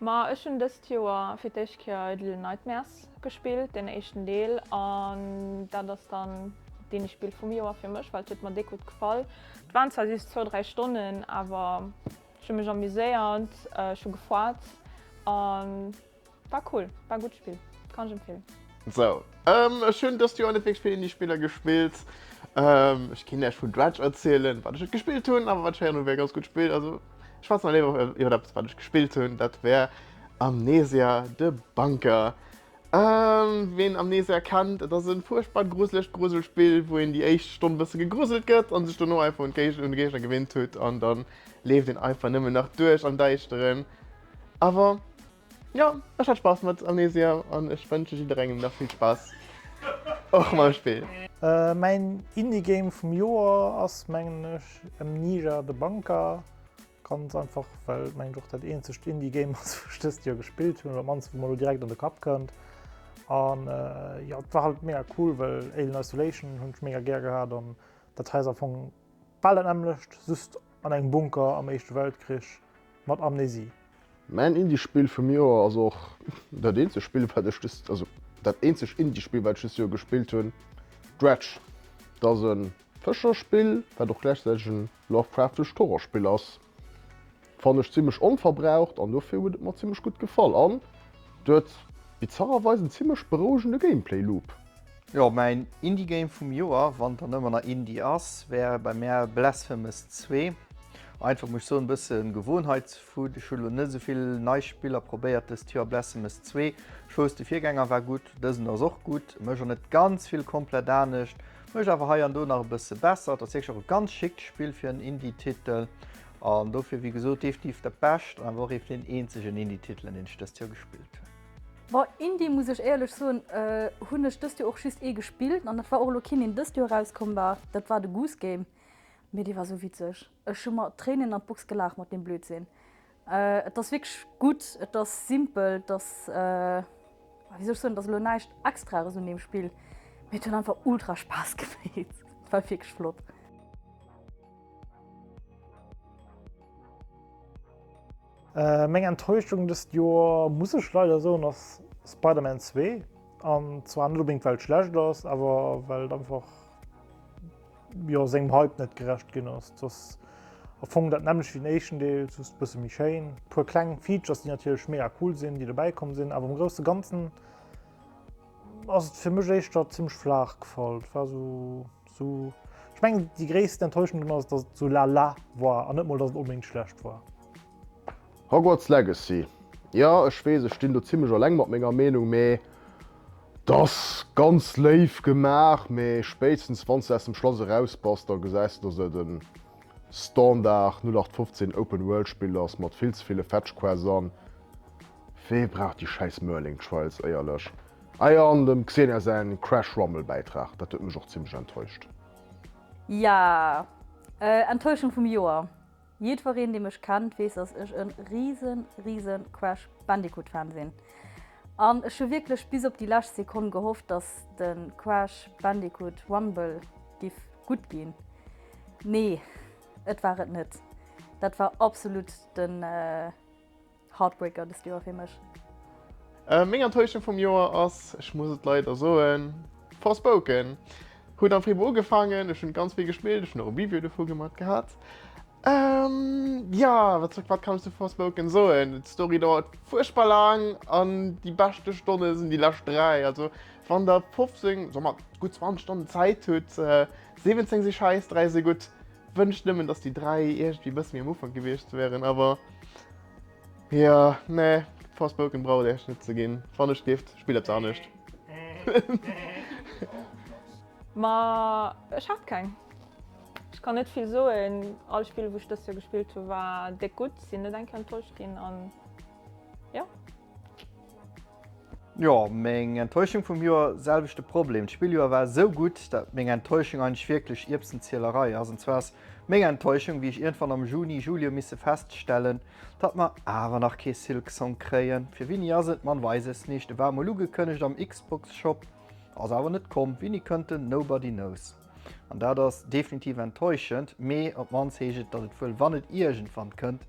Ma ech hunn dëst Joer fir d'éischt Kéier Little Nightmares gespillt, den éischten Deel. An dat ass dann deen Spill vum Joer fir mech, well et huet mer déck gutt gefall. Et waren zwar just zwou, dräi Stonnen, awer ech hu mech amuséiert, ech hu gefuatzt an. War cool, war gudd Spill, kann ech empfehlen. Sou ech hun dëst Joer net wierklech vill Indie Spiller gespillt. Ech keen Iech vun Dredge erzielen wat ech et gespillt hun, awer wat ech héieren hun wär e ganz gudd Spill. Also ech schwätzen awer léiwer iwwert eppes wat ech gespillt hun, dat wär Amnesia, The Bunker. Ween Amnesia kennt, et ass e fuerchtbar gruselegt Gruselspill wou een déi éischt Stonn e bësse gegruselt gëtt an sech dono einfach un d'Géigner gewinnt hutt an dann leeft een einfach nëmmen nach duerch am Däischteren. Awer jo, ech hat Spass mat Amnesia an ech wënsche jidderengem nach vill Spass och mam Spill. Mäin Indie Game vum Joer ass mengen ech Amnesia The Bunker, ganz einfach well et mengen ech och dat eenzegt Indie Game ass wou ech dëst Joer gespillt hunn, oder op d'mannst wou mer elo direkt an de Kapp kënnt. An jo et war halt mega cool well Alien Isolation hunn ech mega gär gehat an dat hei ass am Fong Bal dat nämmlecht, just an engem Bunker am Éischte Weltkrich mat Amnesie. Mäin Indie-Spill vum Joer ass och dat eenzeg Spill, wat ech dëst, also dat eenzeg Indie-Spill, wat ech dëst Joer gespillt hunn, Dredge. Et ass e Fëscherspill, wat och gläichzäiteg e Lovecraftescht Horrorspill ass. Fann ech zimlech onverbraucht an dofir huet et mer zimlech gutt gefall an et huet bizarrerweis en zimlech berouegende Gameplay Loop. Jo, mäin Indie Game vum Joer, wann et dann ëmmer nach Indie ass, wär bei mär Blasphemous 2. Einfach muss ech soen, e bësse Gewohnheitsfout, ech hunn elo net esou vill nei Spiller probéiert dëst Joer. Blasphemous 2, ech wousst de Virgänger war gutt, dësen ass och gutt, mécht och net ganz vill komplett anescht, mécht awer hei an do nach e bësse besser. Et ass wierklech och e ganz schickt Spill fir en Indie Titel An dofir, wéi gesot, definitiv de Bescht, awer och een vun den eenzegen Indie-Titelen, deen ech dëst Joer gespillt hunn. Bon, Indie, muss ech éierlech soen, hunn ech dëst Joer och just ee gespillt, an dat war och elo keen, deen dëst Joer erauskomm war, dat war de Goose Game. Mee dee war esou witzeg, ech hu mer d'Tréinen an d'Box gelaacht mat deem Blödsinn. Et ass wierklech gutt, et ass simpel, et ass, wéi soll ech soen, et ass elo näischt Extraes un deem Spill, mee et huet einfach ultra Spaass gemeet, et war wierklech flott. Meng Enttäuschung dëst Joer, muss ech leider soen, ass Spider-Man 2. An zwar net onbedéngt, well et schlecht ass, awer well et einfach, jo, sengem Hype net gerecht ginn ass. Et ass am Fong dat nämmlecht wéi den éischten Deel, just e bësse méi schéin. E puer kleng Features, déi natierlech mega cool sinn, déi dobäi komm sinn, awer am grousse Ganzen ass et fir mech éischter zimmlech flaach gefall. Et war esou Ech mengen déi gréissten Enttäuschung drun ass, dass et sou la la war an net mol dass et onbedéngt schlecht war. Hogwarts Legacy, jo ech weess ech stinn do zimlech alleng mat menger Meenung, mee et ass ganz léif gemaach, mee spéitstens wanns de aus dem Schlass eraus bass, da gesäis de dass et e Standard 0815 Open World Spill ass mat vill ze ville Fetschquests an. Wee brauch déi schäiss Merlin Trials éierlech? Ah jo, an dem Xenia säin Crash Rumble Bäitrag, dat huet mech och zimlech enttäuscht. Ja, Enttäuschung vum Joer. Jiddwereen dee mech kennt weess dass ech en riesen riesen Crash Bandicoot Fan sinn, an ech hu wierklech bis op déi lescht Sekonn gehofft dass den Crash Bandicoot Rumble giff gutt ginn. Nee et war et net, dat war absolut den. Heartbreaker dest Joer fir mech. Meng Enttäuschung vum Joer ass, ech muss et leider soen, Forspoken. Huet am Februar ugefaangen, ech hunn ganz vill gespillt, ech hunn och e Review dovu gemat gehat. Jo, wat kann ech zu Forspoken soen? D'Story dauert fuerchtbar laang an déi beschte Stonne sinn déi lescht 3. Also wann der 15, soen mer gutt 20 Stonnen Zäit hutt, 17 si schäiss, 3 si gutt, Wënscht nëmmen dass déi 3 iergendwéi bësse méi am Ufank gewiescht wären, awer jo nee Forspoken brauch et Iech net ze ginn. Wann ech gift spillt eppes anescht. Ma ech hat keng. Ech kann net vill soen, all Spill wou ech dëst Joer gespillt hu war déck gutt, sinn net eng Kéier enttäuscht ginn an jo. Jo, meng Enttäuschung vum Joer, selwechte Problem. D'Spilljoer war esou gutt, dat meng Enttäuschung eigentlech wierklech Ierbsenzielerei ass. An zwar ass meng Enttäuschung, wéi ech iergendwann am Juni, Juli hu misse feststellen, datt mer awer nach kee Silksong kréien. Fir Winni ass et, man weiß es nicht. E war mol ugekënnegt am Xbox-Shop, ass awer net komm. Winni kënnt en? Nobody knows. An dat ass definitiv enttäuschend, mee op d'mannst heescht et, datt et wuel, wann et iergendwann kënnt,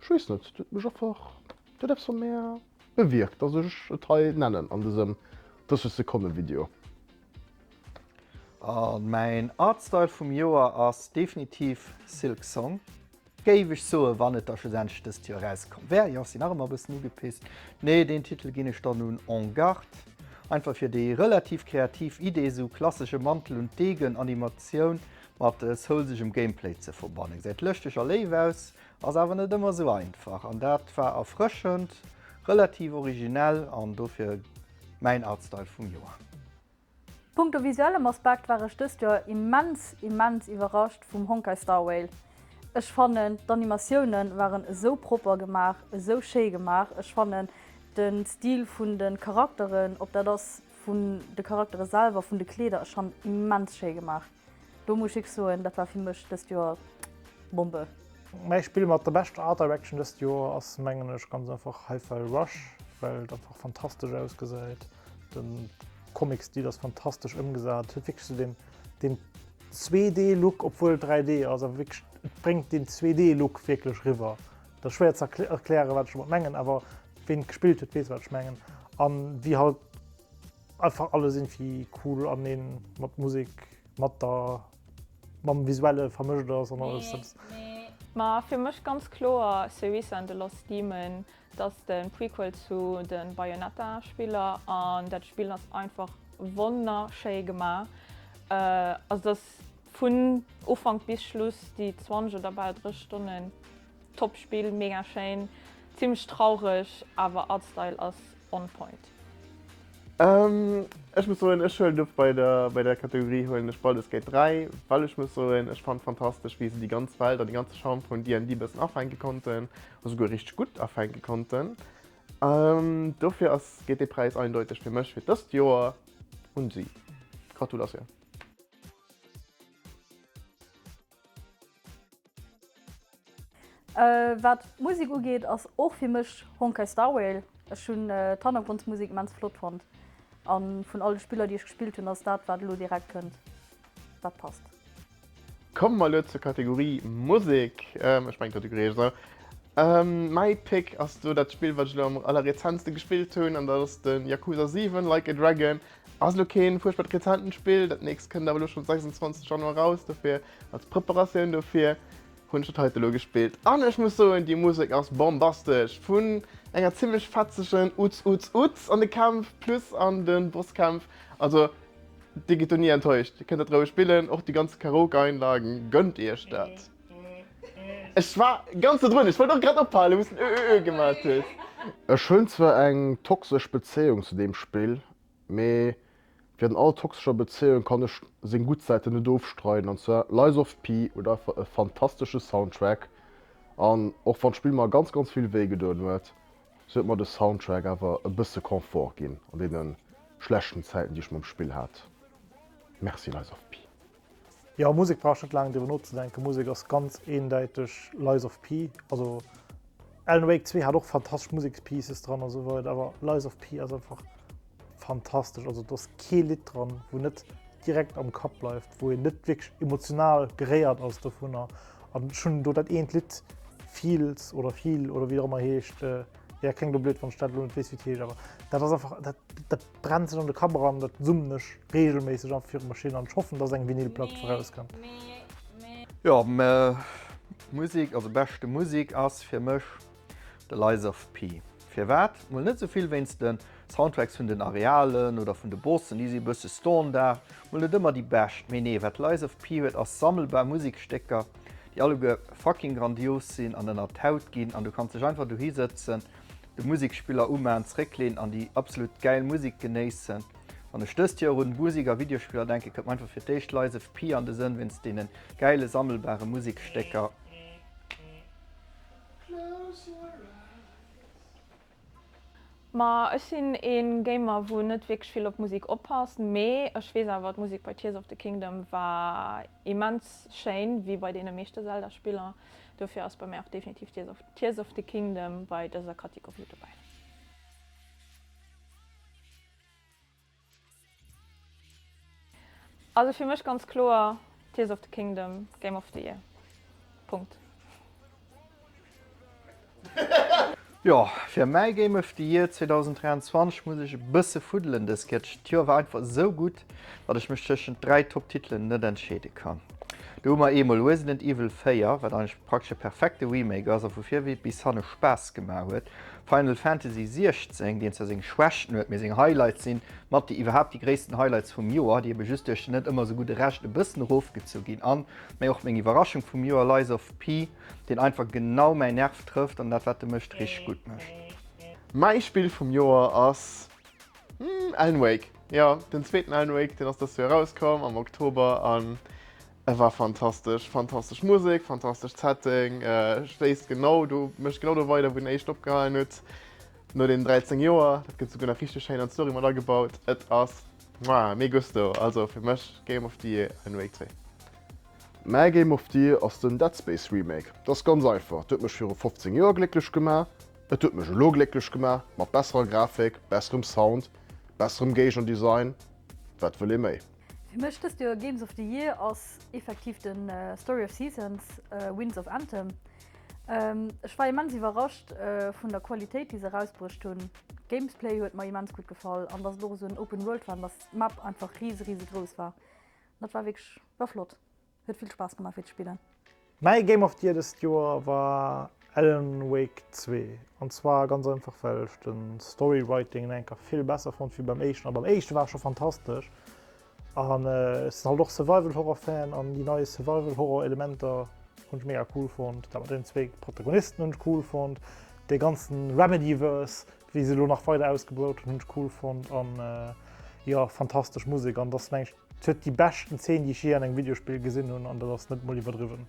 Ech weess net, dat huet mech einfach, dat huet eppes an mär bewierkt, dass ech et hei nennen an dësem 30 Sekonne Video. A mäin Artstyle vum Joer ass definitiv Silksong, géif ech soen, wann et da schlussendlech dëst Joer erauskomm wär. Jo, ech sinn nach ëmmer e bëssen ugepisst, mee deen Titel ginn ech dann un En Garde, einfach fir déi relativ kreativ Idee, esou klassesche Mantel und Degen Animatioun Mat soulsegem Gameplay ze verbannen, gesäit lëschteg a léif aus, ass awer net ëmmer esou einfach. An dat war erfrëschend, relativ originell an dofir mäin Artstyle vum Joer. Punkto visuellem Aspekt war ech dëst Joer immens, immens iwwerrascht vum Honkai Star Rail. Ech fannen d'Animatiounen waren esou propper gemaach, esou schéi gemaach. Ech fannen den Stil vun den Charakteren, ob dat ass vun de Charaktere selwer, vun de Kleeder, ech fannen immens schéi gemaach. Do muss ech iech soen, dat war fir mech dëst Joer Bombe! Mäi Spill mat der beschter Art Direction dëst Joer ass mengen ech ganz einfach Hi-Fi Rush, well et einfach fantastesch ausgesäit. Den Comic-Stil ass fantastesch ëmgesat. Et huet wierklech esou deen, deen 2D-Look, obwuel et 3D ass, awer wierklech et bréngt deen 2D-Look wierklech riwwer. Et ass schwéier ze erklären, wat ech domat mengen, awer ween et gespillt huet, weess wat ech mengen. An wéi halt. Einfach alles irgendwie cool an een mat Musik mat der mam visuelle vermëscht ass an alles dat. Ma fir mech ganz kloer Cerisa and the Lost Demon, dat ass de Prequel zu de Bayonetta Spiller an dat Spill ass einfach wonnerschéi gemaach. Also dat ass vun Ufank bis Schluss, déi 20 oder bal 30 Stonnen, Top Spill, mega schéin, zimmlech traureg, awer Artstyle ass on point. Ech muss soen, ech huelen of bei der bei der Kategorie huelen ech Baldur's Gate 3, well ech muss soen, ech fannt fantastesch wéi se déi ganz Welt an de ganze Charme vun DND bëssen afänke konnten, esouguer richteg gutt afänke konnten. Dofir ass geet dee Präis eindeuteg fir mech fir dëst Joer un si. Gratulatioun! Wat d'Musik ugeet ass och fir mech Honkai Star Rail. Ech hunn d'Hannergrondsmusik immens flott fonnt a vun all de Spiller déi ech gespillt hunn ass dat wat elo direkt kënnt dat passt. Komme mer elo zur Kategorie Musek. Ech mengen d'Kategorie heescht esou. Mäi Pick ass do dat Spill wat ech elo am allerrezenste gespillt hunn an dat ass de Yakuza 7 Like a Dragon. Ass elo keen fuerchtbart rezenten Spill, dat nächst kënnt awer elo schon 26 Januar raus, dofir als Preparatioun dofir hunn ech dat heiten elo gespillt an ech muss soen déi Musek ass bombastesch vun enger zimlech fetzegen Uts Uts Uts an de Kämpf plus an den Bosskämpf, also dir gitt do ni enttäuscht, dir kënnt dat roueg spillen, och déi ganz Karaoke Einlagen, gönnt iech dat. Ech war ganz do drun, ech wollt och grad ophalen, wou's den ö ö ö gemat hues. Ech hunn zwar eng toxesch Bezéiung zu deem Spill, mee wéi an all toxescher Bezéiung kann ech seng gutt Säiten net ofstreiden, an zwar Lies of P huet einfach e fantastesche Soundtrack, an och wann d'Spill mer ganz ganz vill wéi gedoen huet, sou huet mer de Soundtrack awer e bësse Confort ginn an deene schlechten Zäiten déi ech mam Spill hat. Merci Lies of P. Jo Musek brauch net laang driwwer nozedenken, Musek ass ganz eendäiteg Lies of P, also Alan Wake 2 hat och fantastesch Musekspieces dran an sou weider, awer Lies of P ass einfach fantastesch, also do ass kee Lidd dran wou net direkt am Kapp bleift, wou een net wierklech emotional geréiert ass dovunner an ech hunn do dat eent Lidd Feels oder Feel oder wéi och ëmmer heescht, jo kléngt elo blöd wann ech dat elo net weess wéi et heescht, awer dat ass einfach dat dat. D'Bremsen an de Kaberan, dat summen ech regelméisseg einfach fir d'Maschinn an ech hoffen, dass eng Vinylplack vorauskënnt. Jo, mä Musik, also beschte Musik ass fir mech de Lies of P. Firwat? Mol net souvill wéinst de Soundtracks vun den Arealen oder vun de Bossen, déi si e bësse Standard, mol net ëmmer déi bescht, mee nee, wat Lies of P huet ass sammelbar Musikstécker, déi alleguer fucking grandios sinn an ënnert d'Haut ginn an du kanns dech einfach dohi sëtzen de Musikspiller umaen, zréckleen an déi absolut gäil Musik genéissen. Wann ech dëst Joer un Musik a Videospiller denken, kënnt mer einfach fir d'éischt Lies of P an de Sënn, wéinst deene gäile sammelbare Musikstécker. Ma ech sinn ee Gamer wou net wierklech vill op Musik oppasst, mee ech weess awer d'Musik bei Tears of the Kingdom war immens schéin, wéi bei deene meeschte Zelda Spiller. Dofir ass bei mär och definitiv Tears of the Kingdom bei dëser Kategorie dobäi. Also fir mech ganz kloer Tears of the Kingdom Game of the Year. Punkt. Jo, fir mäi Game of the Year 2023 muss ech e bësse fuddelen dës Kéier. D'Joer war einfach esou gutt, datt ech mech tëschent dräi Top-Titelen net entscheede kann. Do hu mer eemol Resident Evil 4, wat eigentlech praktesch e perfekte Remake ass a vu vir bis hanne Spaass gemaach huet, Final Fantasy 16, deen zwar seng Schwächten huet, mee seng Highlights si mat déi iwwerhaapt déi gréissten Highlights vum Joer, déi ebe just duerch den net ëmmer esou gudde Rescht e bëssen erofgezu ginn, an, mee och meng Iwwerraschung vum Joer, Lies of P. deen einfach genau mäin Nerv trëfft an dat wat e mécht richteg gutt mécht. Mäi Spill vum Joer ass Alan Wake, jo den zweeten Alan Wake, deen ass dëst Joer erauskomm am Oktober an e war fantastesch. Fantastesch Musek, fantastesch Setting, schléisst genau do, mécht genau do weider wou den éischten opgehalen huet, no deenen 13 Joer. Dat gëtt souguer nach richteg schéin an d'Story mat agebaut. Et ass Muah, me gusto! Also fir mech Game of the Year Alan Wake 2. Mäi Game of the Year ass den Dead Space Remake. Et ass ganz einfach, et huet mech viru 15 Joer glécklech gemaach, et huet mech elo glécklech gemaach, mat besserer Grafik, besserem Sound, besserem Géigendesign, wat wëll ee méi? Fir mech dëst Joer Games of the Year ass effektiv den Story of Seasons, Winds of Anthem. Ech war immens iwwerrascht vun der Qualitéit déi se erausbruecht hunn. D'Gamesplay huet mer immens gutt gefall an dass et och esou en Open World war an dass d'Map einfach rise rise grouss war. Dat war wierklech war flott. Huet vill Spaass gemaach fir ze spillen. Mäi Game of the Year dëst Joer war Alan Wake zwee an zwar ganz einfach well ech de Story Writing en enker vill besser fonnt wéi beim éischten a beim éischte war e scho fantastesch An ech sinn halt och Survival Horror Fan an déi nei Survival Horror Elementer hunn ech mega cool fonnt. Dat mat deenen zwee Protagonisten hunn ech cool fonnt. Dee ganzen Remedyverse wéi se elo nach weider ausgebaut hunn, hunn ech cool fonnt an jo fantastesch Musek an dass meng ech et huet déi beschten Zeen déi ech jee an engem Videospill gesinn hunn an dat ass net mol iwwerdriwwen.